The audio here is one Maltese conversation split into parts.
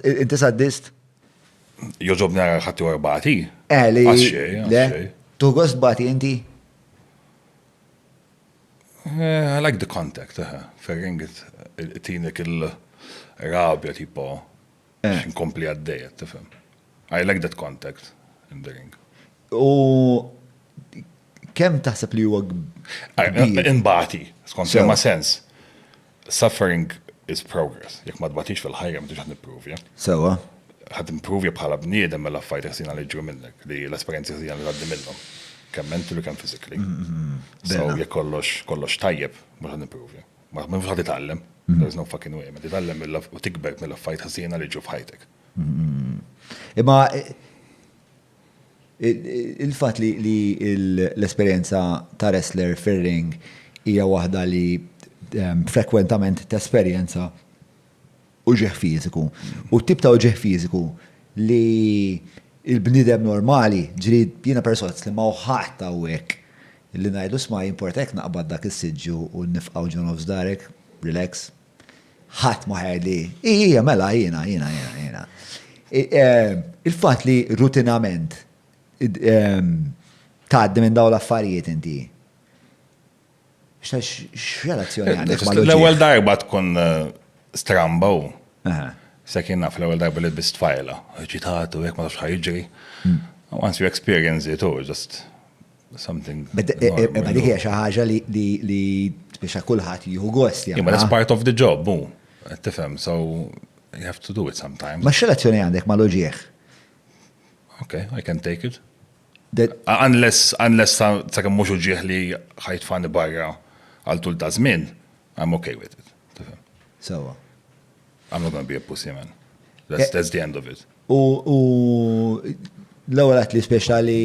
Inti saddist? Joġob nara ħatti u erbati. Eh, li. Le, tu gost bati inti? Eh, I like the contact, eh, ferring it, tinek il-rabja tipo, eh. nkompli għaddejet, tifem. I like that contact in the ring. U kem taħseb li huwa Imbati, skont ma sens. Suffering is progress. Jekk ma tbatix fil-ħajja ma tix qed nippruvja. Sewwa. Qed imppruvja bħala bniedem mela affarijiet ħsiena li jiġru minnek, li l-esperjenzi ħsiena li tgħaddi minnhom. Kemm mentally u kemm physically. So jekk kollox kollox tajjeb mhux qed nippruvja. Ma mhux qed titgħallem. There is no fucking way. Ma titgħallem mill u tikber mill-affarijiet ħsiena li jiġru f'ħajtek. Imma Il-fatt li l-esperjenza ta' wrestler fir-ring hija waħda li frekwentament tesperjenza uġigħ fiżiku. U t-tip ta' uġigħ fiżiku li l-bniedem normali, ġifieri jiena persozz li ma hawn ħadd hawnhekk li ngħidlu 'sma' jimporta jekk naqbad dak is-siġġu u nifqgħu ġo nofs darek, relax, Ħadd ma ħer li. Ija, mela, jiena, jiena, jiena, jiena. Eh, il-fatt li rutinament ehm, tgħaddi minn dawn l-affarijiet inti. X'relazzjoni għandek ma' L-ewwel darba tkun eh, stramba u. Se kien naf l-ewwel darba li bist fajla, ċitatu, jekk ma tafx ħajġri. Hmm. Once you experience it, oh, just something. Ma dik hija xi ħaġa li biex kulħadd jieħu gost. Imma that's part of the job, mu. Tifhem, so you have to do it sometimes. Ma x'relazzjoni għandek ma loġieħ? Okay, I can take it. Unless, unless ta' kemm mhux uġieħ li ħajtfani barra għal tul ta' żmien. I'm okay with it. Sewa. I'm not gonna be a pussy man. That's, eh, that's the end of it. U l-ewwel għat li speċjali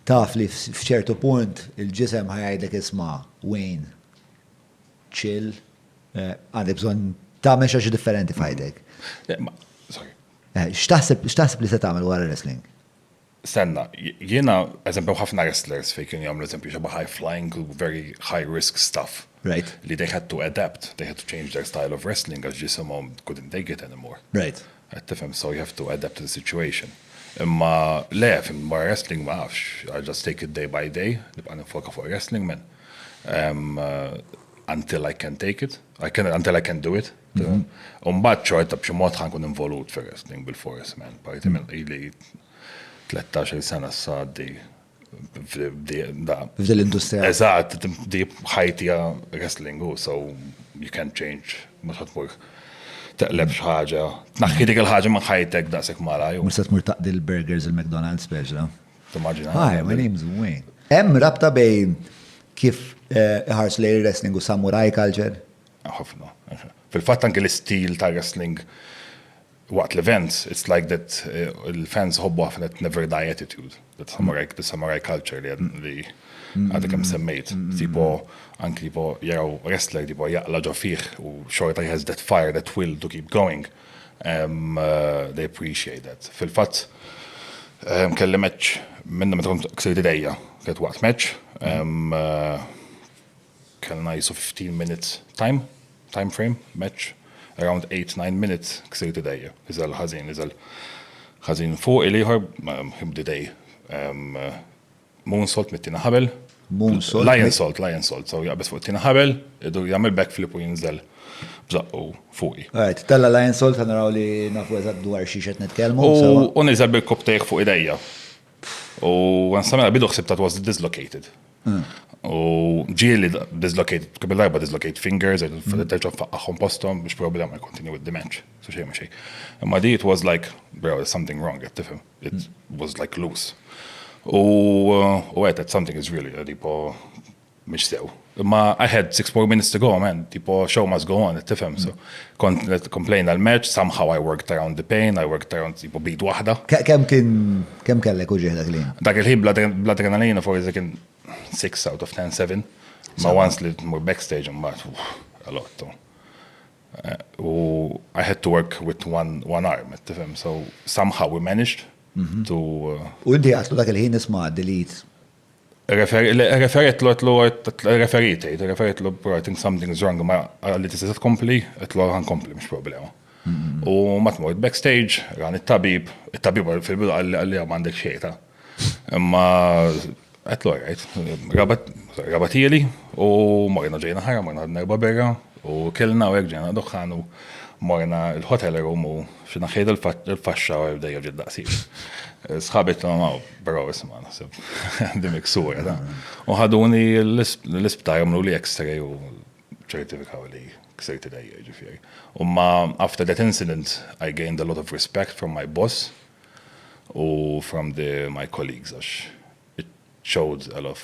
taf li f'ċertu punt il-ġisem ħajajdek isma' Wayne, chill, eh, għandek bżonn ta' meċa xi differenti f'ħajdek. Eh, x'taħseb li se tagħmel wara wrestling? Stenna, jiena, eżempju hemm ħafna wrestlers fejn kienu jagħmlu eżempju xi high flying u very high risk stuff. Right. Li they had to adapt, they had to change their style of wrestling għax ġisimhom couldn't take it anymore. Right. Qed tifhem, so you have to adapt to the situation. Imma le, fim, wara wrestling ma nafx, I just take it day by day, nibqa' ninfoka fuq wrestling man. Until I can take it, until I can do it. Umbat ċorta b'xi mod ħankun involut fir wrestling bil-fors, man. Parti minn qili 13 sena s-saddi. F'dil industrija. Eżat, di ħajti wrestling u so you can't change. Mux ħatmur teqleb xaħġa. Tnaħħi dik il-ħagġa minn ħajtek daqsek mara. Mux ħatmur taqdi l-burgers il-McDonald's speċa. Timmaġina. Hi, my name's Wayne. Em rabta bej kif eh, ħars lej wrestling u samurai culture? Ħafna. Fil-fatt anke l-istil tar-wrestling waqt l-events, it's like that il-fans iħobbu ħafna that never die attitude, that samurai, the samurai culture li għadha kemm semmejt. Tipo anke tipo jaraw wrestler tipo jaqla ġo fih u xorta he has that fire, that will to keep going. Um, uh, they appreciate that. Fil-fatt um, kelli match minna meta kont ksirt idejja, kienet waqt match um, uh, Kellna qisu 15 minutes time, time frame, match, around 8, 9 minutes ksirt idejja, iżel ħażin, iżel ħażin fuq il-ieħor, him did a moonsault mit-tieni ħabel. Moonsault? Lion salt, lion salt, so jaqbes fuq it-tieni ħabel, idur jagħmel backflip u jinżel bżaqqu fuqi. Right, tella Lion Salt ħanaraw li nafu eżatt dwar xi xed nitkellmu. U niżel bil-koptejh fuq idejja. U għan samela bidu xsib that was dislocated. Hmm. U ġieli dislocated, kemm il-darba dislocated fingers, għed hmm. terġa faqqaħħom postom biex problema I continue with the match. So xej ma xej. Imma di it was like, bro, there's something wrong, għed tifem. It hmm. was like loose. U għed, something is really, għed po Mhux sew. Imma I had six more minutes to go, man. Tipo, show must go on, tifhem. So, kont qed complain għall-merċ, somehow I worked around the pain, I worked around tipo bid waħda. Kemm kien kemm kellek uġieħ dak li? Dak il-ħin bla adrenalina forsi kien 6 out of 10, 7. Ma once li mur backstage mbagħad a lot. Eh, u I had to work with one, one arm, tifhem. So somehow we managed mhm. to. Uh, u inti għatlu dak il-ħin isma' delete Referitlu għetlu referit, għetlu referitlu I think something is wrong, ma għalli tista tkompli, għetlu għan kompli, mux problema. U ma tmur backstage, għan il-tabib, il-tabib fil-bidu għalli għam għandek xejta. Ma għetlu għajt, rabatili, u morna ġejna ħara, morna għadna erba berra, u kellna u għegġena doħħanu, morna il-hotel room u xina xejda il-faxxa u għabdejja ġid daqsi. Sħabet ma' Però isma' naħseb għandi miksura ta'. U ħaduni l-isptar għamlu li x-ray u ċertifikaw li ksejt idejja ġifieri. U ma after that incident I gained a lot of respect from my boss u from the my colleagues għax it showed a lot of